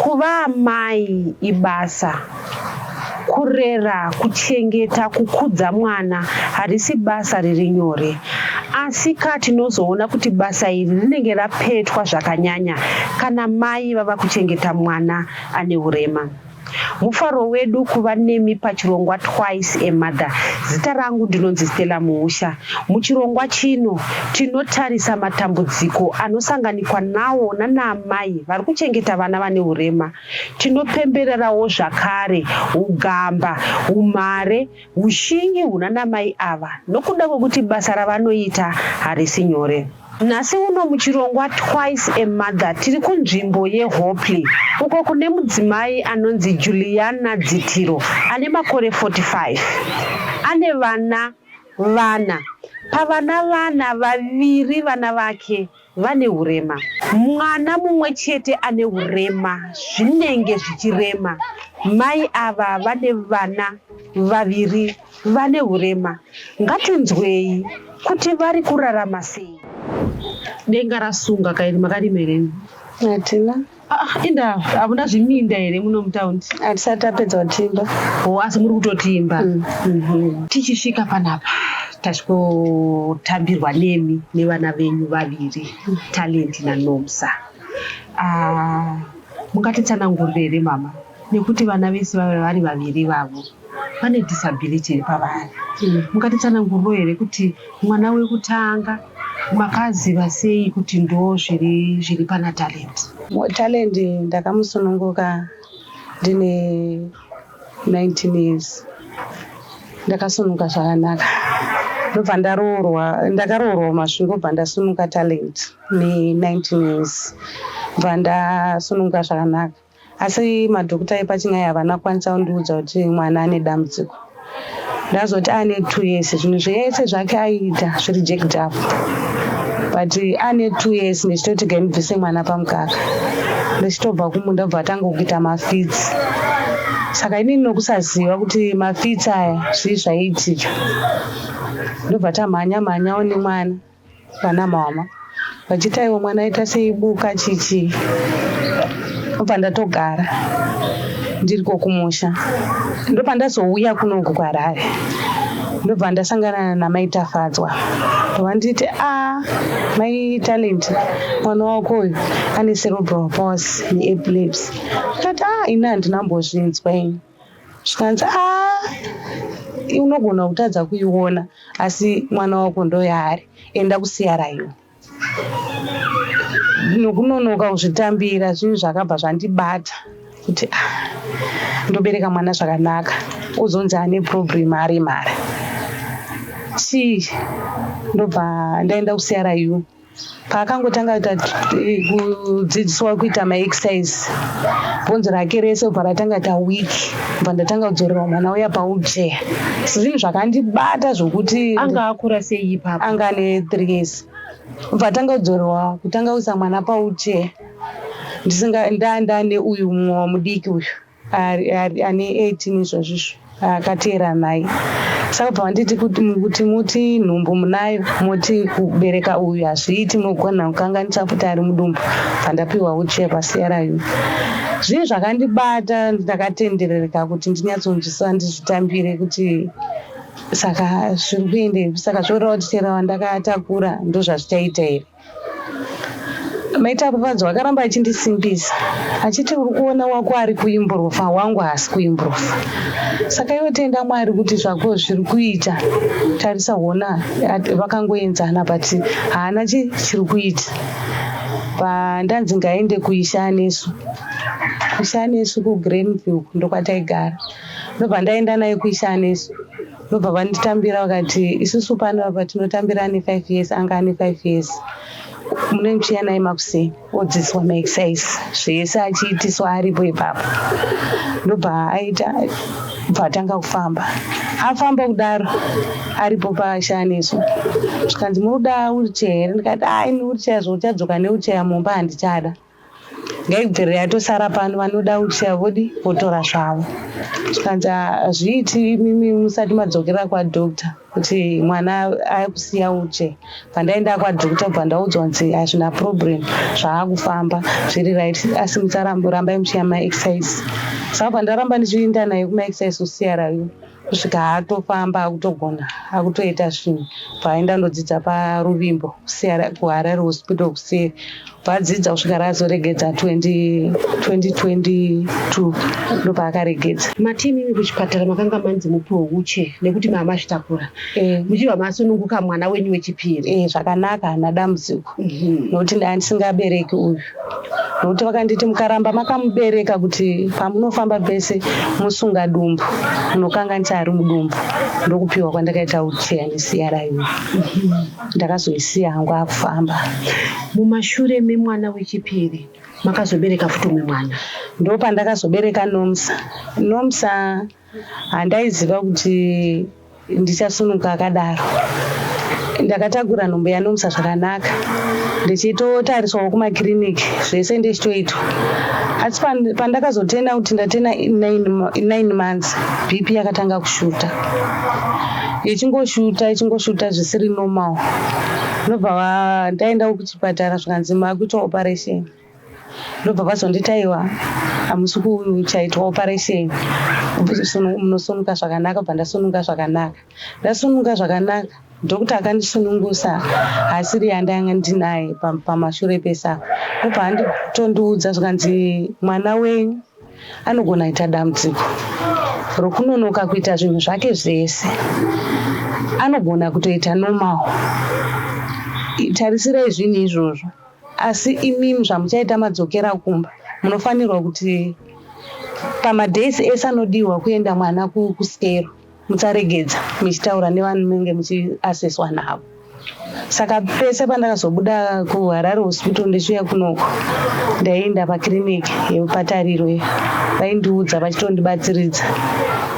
Kuva amai ibasa. Kurera, kuchengeta, kukudza mwana harisi basa riri nyore. Asika tinozoona kuti basa iri rinenge rapetwa zvakanyanya kana mai vava kuchengeta mwana ane urema. Mufaro wedu kuva nemi pachirongwa Twice a Mother. Zita rangu ndinonzi Stella Muusha. Muchirongwa chino tinotarisa matambudziko anosanganikwa nawo nanaamai vari kuchengeta vana vane urema. Tinopembererawo zvakare ugamba, umhare, ushingi hunanamai ava nokuda kwekuti basa ravanoita harisi nyore. Nhasi uno muchirongwa Twice a Mother tiri kunzvimbo yeHopley uko kune mudzimai anonzi Juliana Dzitiro ane makore 45. Ane vana vana. Pavana vana, vaviri vana vake vane urema. Mwana mumwe chete ane urema zvinenge zvichirema. Mai ava vane vana vaviri. vane hurema ngatinzwei kuti vari kurarama sei denga rasunga kairi makarima here hatina ah, inda hamuna zviminda here muno mutaundi hatisati tapedza kutimba o asi muri kutotimba mm. mhm. tichisvika panapa tachikotambirwa nemi nevana venyu vaviri mm. talenti nanomsa ah, mungatitsanangurire here mama nekuti vana vese vave vari vaviri vavo vane disability iri pavari mm. mungatitsananguriro here kuti mwana wekutanga makaziva sei kuti ndo zviri zviri pana talent talent ndakamusununguka ndine 19 years ndakasununguka zvakanaka ndobva ndaroorwa ndakaroorwa masvingo bva ndasunuka talent ne 19 years bva ndasununguka zvakanaka Asi madhokuta epachina aya havana kukwanisa kundiudza kuti mwana ane dambudziko. Ndazoti ane two years zvinhu zvese zvake aiita zviri jacked up but ane two years ndichitoti gaimubvise mwana pamukaka ndichitobva kumunda kubva atanga kuita mafitsi saka inini nokusaziva kuti mafitsi aya zvii zvaiitika ndobva tamhanya mhanyawo nemwana Vana mama vachiti aiwa mwana aita seibuka chichi obva ndatogara ndiriko kumusha ndopandazouya kunoku kwarare ndobva ndasangana namai tafadzwa ndovanditi a ah, mai talent mwana wako uyu ane cerebral pos neaplebs ndikati a ah, ini handina mbozvinzwa ini zvikanzi aa unogona kutadza kuiona asi mwana wako ndoyaari enda kusiyarayo nokunonoka kuzvitambira zvinhu zvakabva zvandibata kuti ah, ndobereka mwana zvakanaka uzonzi ane problem ari mari chii ndobva ndaenda kusiyarayo paakangotanga kuita kudzidziswa kuita maexercise bvunzo rake rese ubva ratanga ta week bva ndatanga kudzorerwa mwana uya paubjea zvinhu zvakandibata zvokuti anga akura sei ipapa anga ane three years ubva atanga kudzorerwa kutanga kuisa mwana paubjea ndisinga ndandane uyu mumwe wamudiki uyu ari ari ane 18 izvozvizvo akateera nhai saka bva wanditi kuti muti nhumbu munayo moti kubereka uyu hazviiti mogona kukanganisa kuti ari mudumbu bvandapiwa uchiya pasiyarayu zvinhu zvakandibata ndakatenderereka kuti ndinyatsonzwisisa ndizvitambire kuti saka zviri kuendei saka zvoreva kuti chero wandakatakura ndozvazvichaita here Mai Tafadzwa akaramba achindisimbisa achiti uri kuona wako ari kuimburufa wangu haasi kuimburufa saka iwe tenda mwari kuti zvako zviri kuita tarisa hona vakangoenzana but haana chi chiri kuita pandanzi ngaende kuisha anesu kuisha anesu kugreenview ndokwataigara ndobva ndaenda naye kuisha anesu ndobva vanditambira vakati isusu pano apa tinotambira ane five years anga ane five years mune muchiya naye makuseni odzidziswa maexercise zvese achiitiswa aripo ipapo ndobva aita bvatanga kufamba afamba kudaro aripo paashaneso zvikanzi munoda wheelchair here ndikati ai newheelchair zvouchadzoka newheelchair mumba handichada Gaigdzere yatosara pano vanoda kuchaya vodi votora zvavo zvikanzi hazviiti imimi musati madzokera kwadoctor kuti mwana akusiya uche pandaenda kwadoctor kubva ndaudzwa kunzi hazvina problem zvaakufamba zviri right asi musarambai muchiya maexercise saka pandaramba ndichienda naye kumaexercise kusiya rayo kusvika atofamba akutogona akutoita zvinhu paaenda ndodzidza paruvimbo kuharare hospital kuseri vadzidza kusvika razoregedza 2022 ndopaakaregedza matimi imi kuchipatara makanga manzi mupiwo uche nekuti mama zvitakura eh. muchibva masununguka mwana wenyu wechipiri eh, zvakanaka hana dambudziko mhm. nokuti ndaa ndisingabereki uyu nokuti vakanditi mukaramba makamubereka kuti pamunofamba pese musunga dumbu munokanganisa ari mudumbu ndokupiwa kwandakaita ucheya nesiya raiwe ndakazoisiya hangu akufamba mumashure memwana wechipiri makazobereka futi umwe mwana ndopandakazobereka nomsa nomsa Handaiziva kuti ndichasunuka akadaro. Ndakatakura nhumbu yaNomsa zvakanaka ndichitotariswawo kumakiriniki zvese ndichitoitwa asi pandakazotenda kuti ndatena 9 months bp yakatanga kushuta ichingoshuta ichingoshuta zvisiri normal ndobva ndaendawo kuchipatara zvikanzi makuita operation ndobva vazonditi aiwa hamusi kuchaitwa operation munosununga zvakanaka bva ndasununga zvakanaka ndasununga zvakanaka dhokta akandisunungusa haasiri yandanga ndinaye pamashure pesa ndobva anditondiudza zvikanzi mwana wenyu anogona kuita dambudziko rokunonoka kuita zvinhu zvake zvese anogona kutoita normal tarisira izvinhu izvozvo Asi imim zvamuchaita madzokera kumba munofanirwa kuti pamadays ese anodihwa kuenda mwana kuskero musaregedza michitaura nevanenge muchiaseswa navo saka pese pandakazobuda kuharare hospital ndichiuya kunoko ndaienda pakiriniki yepatariro iyo vaindiudza vachitondibatsiridza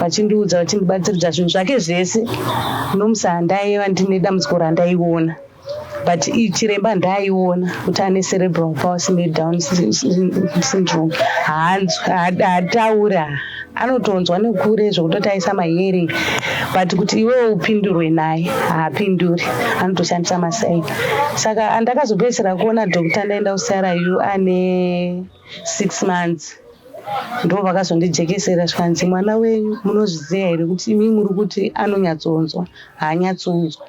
vachindiudza vachindibatsiridza zvinhu zvake zvese nomusa handaiva ndine dambudziko randaiona but chiremba ndaaiona kuti ane cerebral palsy nedown syndrome haataura anotonzwa nekure zvekutoti aisa mahearing but kuti iwewo upindurwe naye haapinduri anotoshandisa masai saka andakazopedzisira kuona doctor ndaenda kucryu ane six months ndo vakazondijekesera zvikanzi mwana wenyu munozviziva here kuti imi muri kuti anonyatsonzwa haanyatsonzwa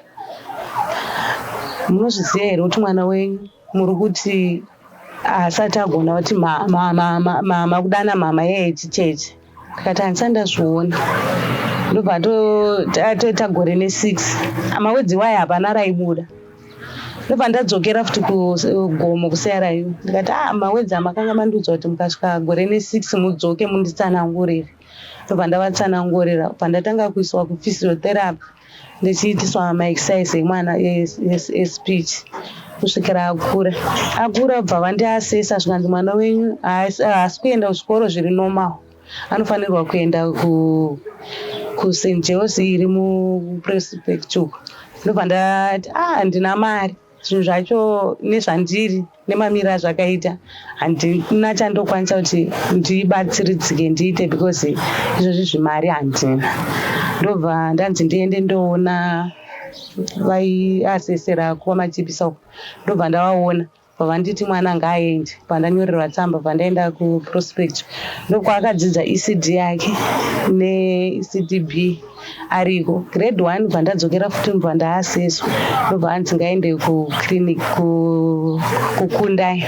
Munozviziva here kuti mwana wenyu muri kuti haasati agona kuti mama kudana mama yeye chicheche tikati handisati ndazviona ndobva atoita gore nesix amawedzi iwayo hapana raibuda ndobva ndadzokera futi kugomo kuserayu ndikati a ah, mawedzi amakanga mandiudza kuti mukasvika gore nesix mudzoke munditsanangurire ndobva ndavatsanangurira bva ndatanga kuiswa kuphysiotherapy ndichiitiswa maexercise emwana espeech kusvikira akura akura bva vandiasesa zvikanzi mwana wenyu haasi kuenda kuzvikoro zviri normal anofanirwa kuenda kust jos iri muprespectual ndobva ndati ah ndina mari zvinhu zvacho nezvandiri nemamiro azvakaita handina chandokwanisa kuti ndibatsiridzike ndiite because izvozvi zvimari handina ndobva ndanzi ndiende ndoona vaiasesera kuva machipisa uko ndobva ndavaona pavanditi mwana ngaaende pandanyorerwa tsamba pandaenda kuprospect ndokwaakadzidza ecd yake neecdb ariko grade one bva ndadzokera futi mva ndaaseso ndobva anzi ngaende kuclinic kukundai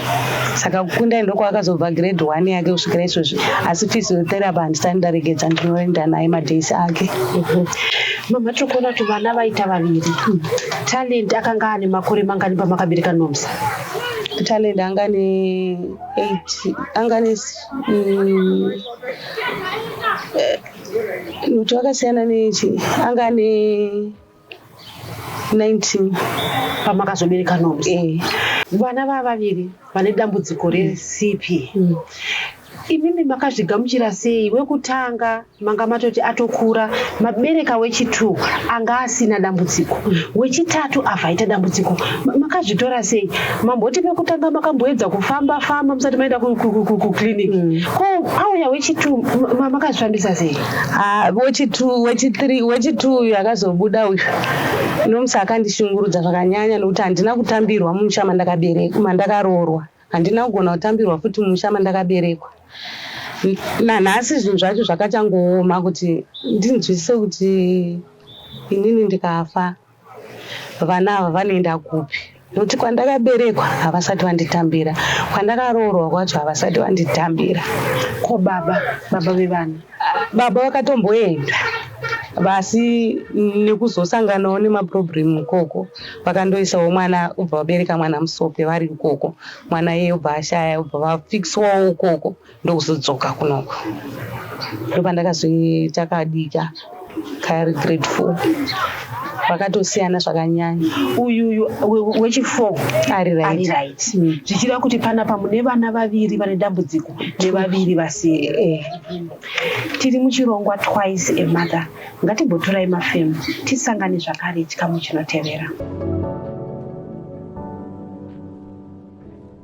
saka kukundai ndokwakazobva grade one yake kusvikira izvozvi asi physiotherapy handisati ndaregedza ndinoenda naye madays ake mhm. mama tiri kuona kuti vana vaita vaviri hmm. talent akanga ane makore mangani pamakabereka nomsa talent anga ne eight anga ne mm, eh, Lutu akasiyana nechi anga ane 19 pamakazobereka Nobs. Eh. Vana vava vaviri vane dambudziko resipi. Mm. Imimi makazvigamuchira sei wekutanga manga matoti atokura mabereka wechitu anga asina dambudziko mm. wechitatu avhaita dambudziko makazvitora sei mamboti pekutanga makamboedza kufamba famba musati maenda kuclinic mm. ko pauya wechitu makazvifambisa sei ah, wechitu wechithree wechitu uyu akazobuda uyu nomusi akandishungurudza zvakanyanya nokuti handina kutambirwa mumusha mandakaberekwa mandakaroorwa handina kugona kutambirwa futi mumusha mandakaberekwa nanhasi zvinhu zvacho zvakachangooma kuti ndinzwisise kuti inini ndikafa Vana ava vanoenda kupi? Nokuti kwandakaberekwa havasati vanditambira, kwandakaroorwa kwacho havasati vanditambira. Ko baba, baba vevana? Baba vakatomboenda vasi nekuzosanganawo nemaproblem ikoko vakandoisawo mwana ubva vabereka mwana musope vari ikoko mwana iye ubva ashaya ubva vafixwawo ikoko ndokuzodzoka kunoko ndopandakazoita kadika kaari grade four vakatosiyana zvakanyanya uyuyu wechifour ari right mm. zvichireva kuti panapa mune vana vaviri vane dambudziko nevaviri vasiri eh. tiri muchirongwa twice a mother ngatimbotorai mafemo tisangane zvakare chikamu chinotevera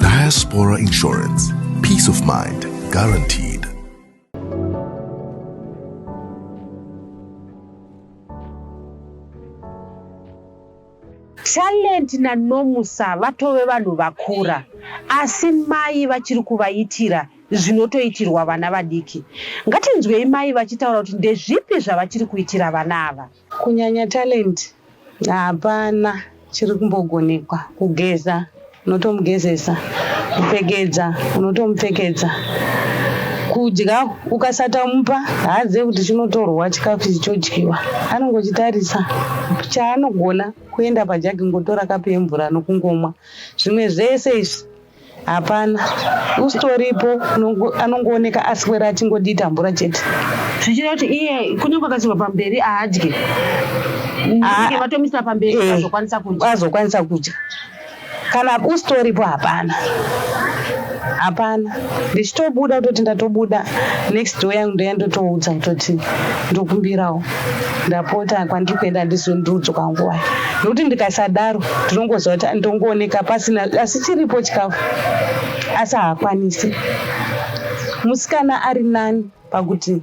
Diaspora Insurance. Peace of mind guaranteed. talent nanomusa vatove vanhu vakura asi mai vachiri kuvaitira zvinotoitirwa vana vadiki. Ngatinzwei mai vachitaura kuti ndezvipi zvavachiri kuitira vana ava. Kunyanya talent hapana chiri kumbogonekwa. Kugeza unotomugezesa, kupfekedza unotomupfekedza, kudya ukasatamupa haazive kuti chinotorwa chikafu ichi chodyiwa. Anongochitarisa chaanogona kuenda pajagi ngotora kapu yemvura nokungomwa. Zvimwe zvese izvi hapana usitoripo anongooneka aswera achingodii tambura chete zvichida kuti iye kunyange akasirwa pamberi aadye vatomisa pamberi eh, azokwanisa kudya azokwanisa kudya kana usitoripo hapana hapana ndichitobuda kutoti ndatobuda next door yangu ndoya ndotoudza kutoti ndokumbirawo ndapota kwandiri kuenda ndizondiudzo kwanguva nokuti ndikasadaro ndinongoziva kuti andongooneka pasina asi chiripo chikafu asi haakwanisi musikana ari nani pakuti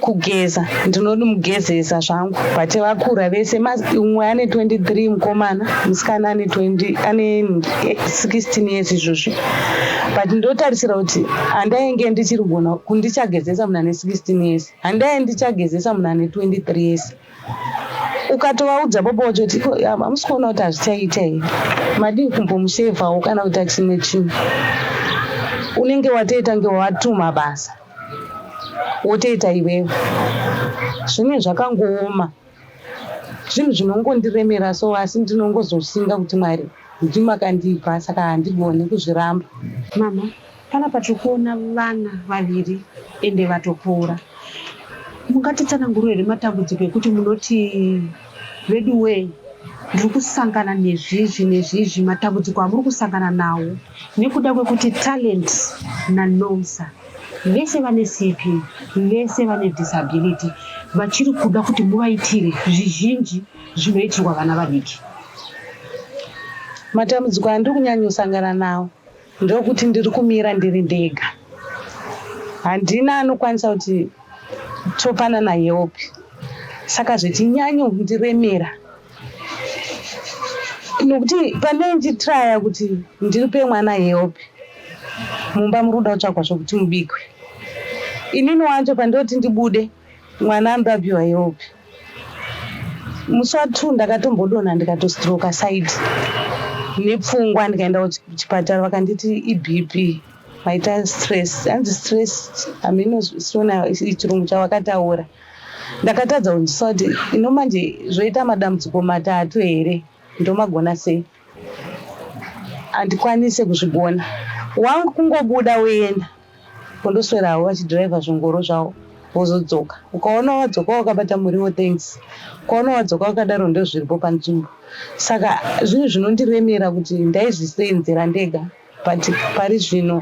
kugeza ndinonomugezesa zvangu but vakura vese umwe ane 23 mukomana musikana ane 20 ane 16 years izvozvi but ndotarisira kuti handainge ndichiri gona kundichagezesa munhu ane 16 years handai ndichagezesa munhu ane 23 years ukatovaudza baba wacho kuti hamusi kuona kuti hazvichaita here madii kumbomushevawo kana kuita chimwe chinhu unenge watoita nge watuma basa wotoita iwewe zvine zvakangooma Zvinhu zvinongondiremera so asi ndinongozoshinga kuti Mwari ndimi makandipa saka handigone kuzviramba. Mhamha, panapa tiri kuona vana vaviri ende vatopora. Mungatitsanangurira here matambudziko ekuti munoti veduwee ndiri kusangana nezvizvi nezvizvi, matambudziko amuri kusangana nawo nekuda kwekuti Talent naNomsa. vese vane sipi vese vane disability vachiri kuda kuti muvaitire zvizhinji zvinoitirwa vana vadiki matambudziko andiri kunyanyosangana nawo ndokuti ndiri kumira ndiri ndega handina anokwanisa kuti topanana help saka zvechinyanyondiremera nokuti pandai ndichitraya kuti ndiripe mwana help mumba muri kuda kutsvagwa zvokuti mubikwe inini wacho pandoti ndibude mwana anoda kupiwa help musi wa two ndakatombodonha ndikatostroka side nepfungwa ndikaenda kuchipatara vakanditi ibp maita stress hanzi stress hamino sona chirungu chavakataura Ndakatadza kunzwisisa kuti ino manje zvoita madambudziko matatu here ndomagona sei handikwanise kuzvigona wangu kungobuda woenda kundoswera havo vachidriver zvingoro zvavo vozodzoka ukaona wadzoka wakabata muriwo thanks ukaona wadzoka wakadaro ndozviripo panzvimbo saka zvinhu zvinondiremera kuti ndaizviseenzera ndega but pari zvino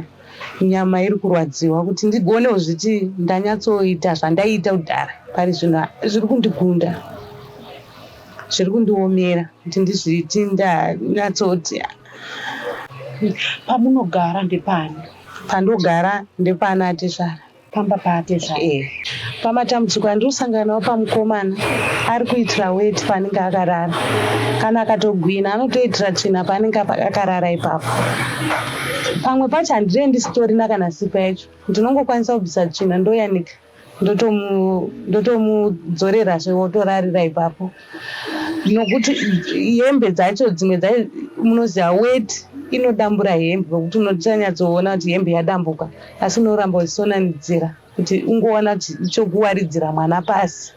nyama iri kurwadziwa kuti ndigone kuzviti ndanyatsoita zvandaiita kudhara pari zvino zviri kundigunda zviri kundiomera kuti ndizviti ndanyatsoti pamunogara ndepani pandogara ndepana tezvara pamba paatezvara eh. pamatambudziko andiri kusangana nawo pamukomana ari kuitira weti paanenge akarara kana akatogwina anotoitira tsvina paanenge akarara ipapo pamwe pacho handirei ndisitorina kana sipa yacho ndinongokwanisa kubvisa tsvina ndoyanika ndotomudzorerazve wotorarira ipapo nokuti hembe dzacho dzimwe dzai munoziva wet inodambura hembe vokuti unotanyatsoona kuti hembe yadambuka asi unoramba uchisonanidzira kuti ungoona chokuwaridzira mwana pasi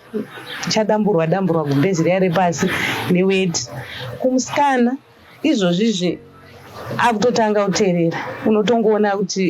chadamburwa damburwa gumbezi riya repasi neweti kumusikana izvozvizve akutotanga kuterera unotongoona kuti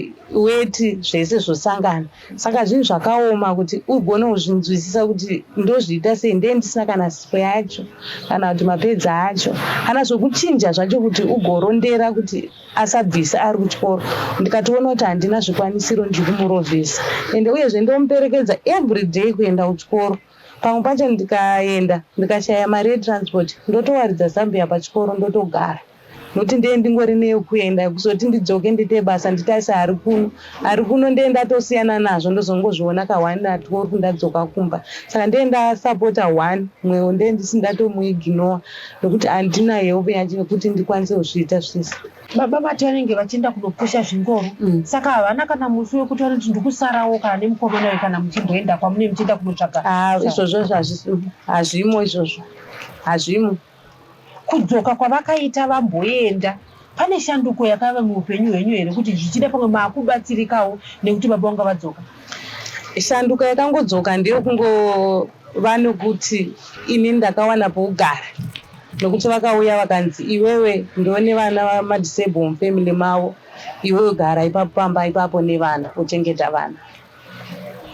weti zvese zvosangana saka zvinhu zvakaoma kuti ugone kuzvinzwisisa kuti ndozviita sei ndee ndisina kana sipo yacho kana kuti mapedza acho kana zvokuchinja zvacho kuti ugorondera kuti asabvise ari kuchikoro ndikatoona kuti handina zvikwanisiro ndiri kumurovhesa ende uyezve ndomuperekedza every day kuenda kuchikoro Pamwe pacho ndikaenda ndikashaya mari yetransport ndotowaridza zambia pachikoro ndotogara noti ndee ndingori neyekuenda kuzoti ndidzoke ndiite basa nditarise ari kuno ari kuno ndee ndatosiyana nazvo ndozongozviona ka one at work ndadzoka kumba saka ndee ndasapota one mwewo ndee ndisi ndatomuignowa nokuti handina help yacho yekuti ndikwanise kuzviita zvese Baba vati vanenge vachienda kunopusha zvingoro mm. saka havana kana musi wekuti vanoti ndikusarawo kana nemukomana we kana muchimboenda kwamune muchienda kunotsvaga ah, izvozvo hazvimo izvozvo hazvimo kudzoka kwavakaita vamboenda pane shanduko yakava muupenyu hwenyu here kuti zvichida pamwe maakubatsirikawo nekuti baba vanga vadzoka shanduko yakangodzoka ndeyo kungova nokuti ini ndakawana pougara nokuti vakauya vakanzi iwewe ndiwe nevana madisable mufamily mavo iwewe gara ipapo pamba ipapo nevana uchengeta vana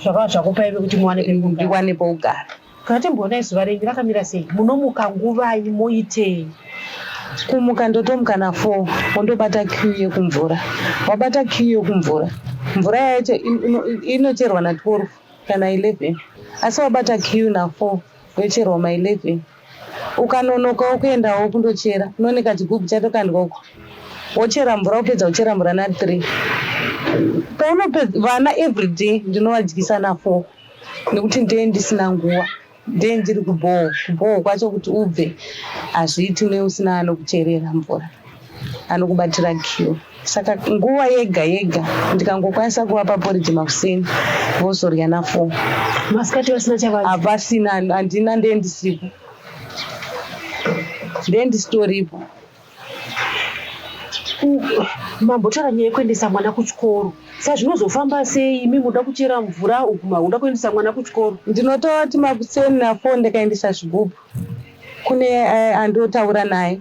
zvakava zvakupa ive kuti muwane ndiwane pokugara kana timboona isu varengi vakamira sei munomuka nguvai moitei kumuka ndotomuka na four wondobata q yekumvura wabata q yekumvura mvura yacho inocherwa na twelve kana eleven asi wabata q na four yocherwa ma eleven Ukanonoka wokuendawo kundochera, unone kachigubhu chatokandwa uko, wochera mvura, wopedza kuchera mvura na three. Paunopedza vana everyday ndinovadyisa na four nekuti ndee ndisina nguva, ndee ndiri kubhohwa. Kubhohwa kwacho kuti ubve hazviiti neusina anokucherera mvura. anokubatira kiwo saka nguva yega yega ndikangokwanisa kuvapa poriji makuseni vozorya nafour masikati vasina chavaa hapasina handina ndendisipo ndendisitoripo mambotaura nyaya yekuendesa mwana kuchikoro sa zvinozofamba sei imi muda kuchera mvura uguma uda kuendesa mwana kuchikoro ndinotaura kuti makuseni nafo ndakaendesa zvigubhu kune eh, andotaura naye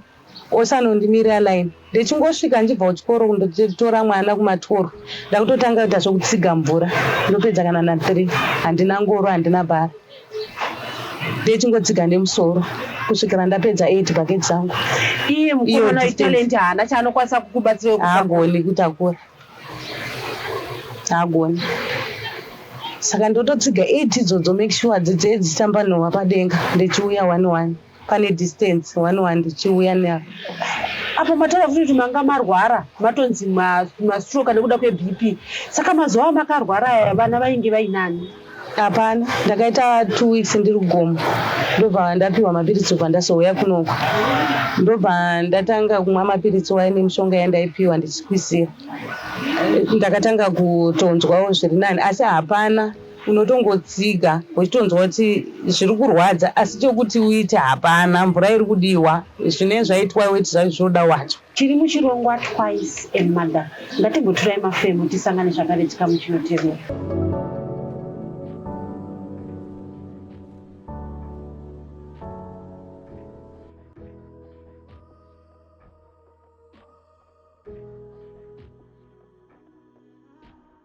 osanondimirira line ndichingosvika ndichibva kuchikoro kundotora mwana kumatoro ndakutotanga kuita zvekutsiga mvura ndopedza kana na three handina ngoro handina bhara ndichingotsiga nemusoro kusvikira ndapedza eight bucket zangu iye mukomana wetalent haana chaanokwanisa kukubatsira agoni kutakura agoni saka ndototsiga eight idzodzo make sure dzidzee dzichitamba nhova padenga ndichiuya one one pane distance wanwa ndichiuya na apo mataura futi kuti manga marwara matonzi mastroke nekuda kwebp saka mazuva amakarwara aya vana vainge vainani hapana ndakaita two weeks ndiri gomo ndobva ndapiwa mapiritsi obva ndasouya kunoko ndobva ndatanga kumwa mapiritsi waye nemishonga yandaipiwa ndichikwizira ndakatanga kutonzwawo zviri nani asi hapana unotongotsiga uchitonzwa kuti zviri kurwadza asi chekuti uite hapana mvura iri kudiwa zvinenge zvaitwa weti zvacho zvinoda wacho tiri muchirongwa twice a mother ngatimboturai mafemo tisangane zvakare chikamu chinotevera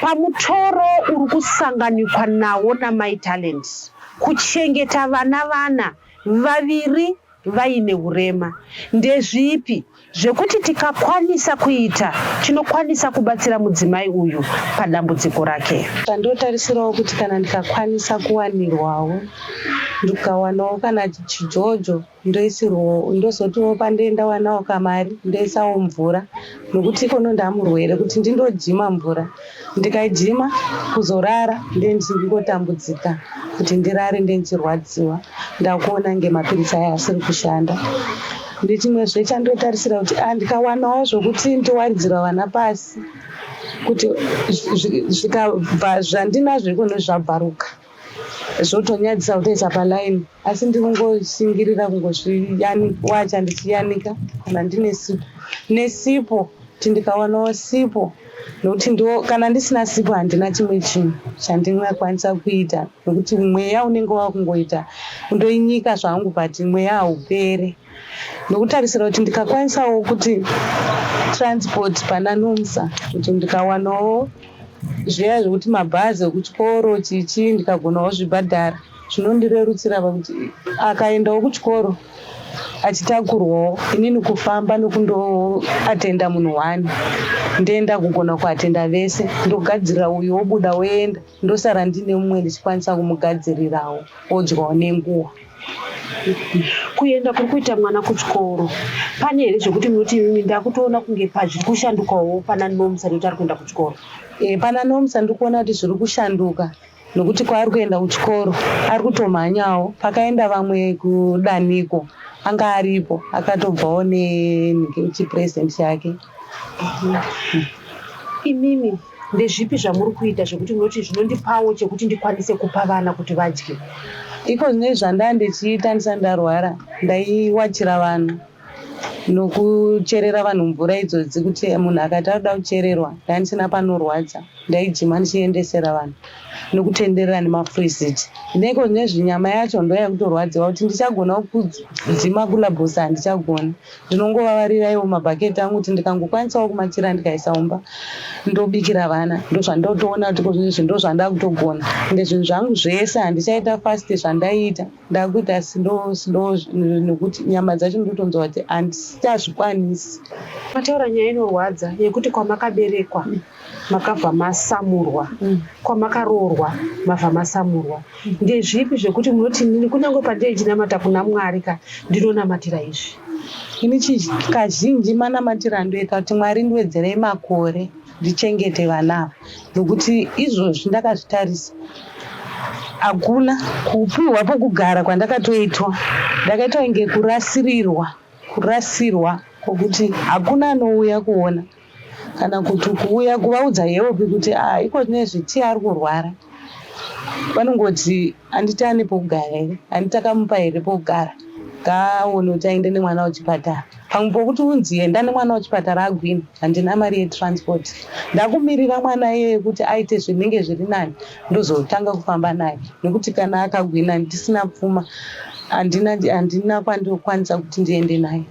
pamutoro uri kusanganikwa nawo namai talent kuchengeta vana vana vaviri vaine hurema ndezvipi zvekuti tikakwanisa kuita tinokwanisa kubatsira mudzimai uyu padambudziko rake. Ndotarisirawo kuti kana ndikakwanisa kuwanirwawo ndikawanawo kana chijojo ndoisirwawo ndozotiwo pandoenda wanawo kamari ndoisawo mvura nokuti ikono ndamurwere kuti ndindojima mvura ndikaijima kuzorara ndendingotambudzika kuti ndirare ndendirwadziwa ndakuona nge mapiritsi aya asiri kushanda ndichimwezve chandotarisira kuti ah, ndikawanawo zvokuti ndowaridzira vana pasi kuti zvikabva zvandinazvo ikone zvabvaruka zvotonyadzisa kutoisa paline asi ndiri kungoshingirira kungozviwacha ndichiyanika kana ndine sipo nesipo kuti ndikawanawo sipo nokuti ndo kana ndisina sipo handina chimwe chinhu chandingakwanisa kuita nokuti mweya unenge wakungoita undoinyika zvangu but mweya haupere ndokutarisira kuti ndikakwanisawo kuti transport pana nomsa kuti ndikawanawo zviya zvekuti mabhazi ekuchikoro chichi ndikagonawo zvibhadhara zvinondirerutsira pakuti akaendawo kuchikoro achitakurwawo inini kufamba nokundoatenda munhu one ndoenda kugona kuatenda vese ndogadzirira uyu wobuda woenda ndosara ndine mumwe ndichikwanisa kumugadzirirawo odyawo nenguva kuenda kuri kuita mwana kuchikoro pane here zvekuti munoti imimi ndakutoona kunge pazviri kushandukawo pana nomsa nekuti ari kuenda kuchikoro e, pana nomsa ndiri kuona kuti zviri kushanduka nokuti kwaari kuenda kuchikoro ari kutomhanyawo pakaenda vamwe kudaniko anga aripo akatobvawo nechipresident chake Imimi ndezvipi zvamuri kuita zvekuti munoti zvinondipawo chekuti ndikwanise kupa vana kuti vadye? Iko zvinei zvandaa ndichiita ndisati ndarwara ndaiwachira vanhu nokucherera vanhu mvura idzodzi kuti munhu akati anoda kuchererwa ndandisina panorwadza ndaijima ndichiendesera vanhu nokutenderera nemafreezit neiko nezvinyama yacho ndoya kutorwadziwa kuti ndichagona kudzima kulabhosa handichagoni ndinongovavarirawo mabhaketi angu kuti ndikangokwanisawo kumachira ndikaisa mumba ndobikira vana ndozvandotoona kuti kozvinezvi ndozvandakutogona ende zvinhu zvangu zvese handichaita fast zvandaiita ndakuita sido sido nekuti nyama dzacho ndotonzwa kuti handichazvikwanisi mataura nyaya inorwadza yekuti kwamakaberekwa makabva masamurwa mm. kwamakaroorwa mabva masamurwa mm. ndezvipi zvekuti munoti nini kunyange pandei chinamata kuna mwari ka ndinonamatira izvi ini kazhinji manamatiro andoita kuti mwari ndiwedzerei makore ndichengete vana ava nokuti izvozvi ndakazvitarisa hakuna kupiwa pokugara kwandakatoitwa ndakaitwa inge kurasirirwa kurasirwa kwokuti hakuna anouya kuona kana kuti kuuya kuvaudza heopi kuti ah, iko nezveti ari kurwara vanongoti handiti ane pokugara here handiti akamupa here pokugara ngaaone kuti aende nemwana wechipatara pamwe pokuti unzi enda nemwana wechipatara agwini handina mari yetransport ndakumirira mwana iyeye kuti aite zvinenge zviri nani ndozotanga kufamba naye nekuti kana akagwina ndisina pfuma handina kwandikwanisa kuti ndiende naye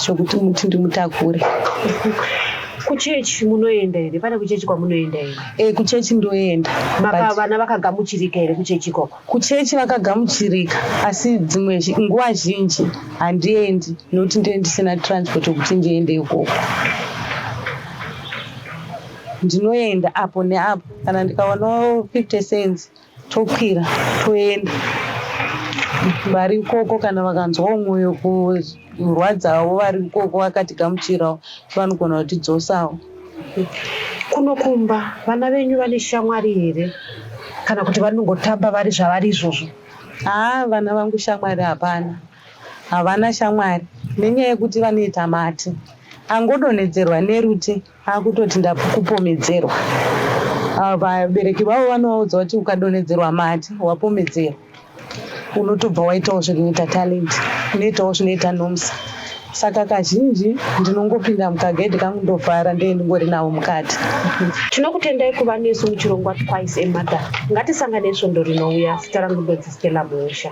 zvekuti muti ndimutakure kuchechi munoenda here pane kuchechi kwamunoenda here e eh, kuchechi ndoenda vana vakagamuchirika here kuchechi ikoko kuchechi vakagamuchirika asi dzimwe nguva zhinji handiendi nokuti ndee ndisina transport yekuti ndiende ikoko ndinoenda apo neapo kana ndikaonawo fifty cents tokwira toenda vari ikoko kana vakanzwawo mwoyo kurwadzawo vari ikoko vakatigamuchirawo vanogona kutidzosawo kuno kumba vana venyu vane shamwari here kana kuti vanongotamba vari zvavari izvozvo haa vana vangu shamwari hapana havana shamwari nenyaya yekuti vanoita mati angodonhedzerwa nerute akutoti ndakupomedzerwa ah, vabereki vavo vanovaudza kuti ukadonhedzerwa mati wapomedzerwa unotobva waitawo zvinoita talent unoitawo zvinoita nomsa saka kazhinji ndinongopinda mukagedhi kangu ndovhara ndee ndingori navo mukati tinokutendai kuva nesu muchirongwa twice emother ngatisangane svondo rinouya zita rangu ndodzistela muusha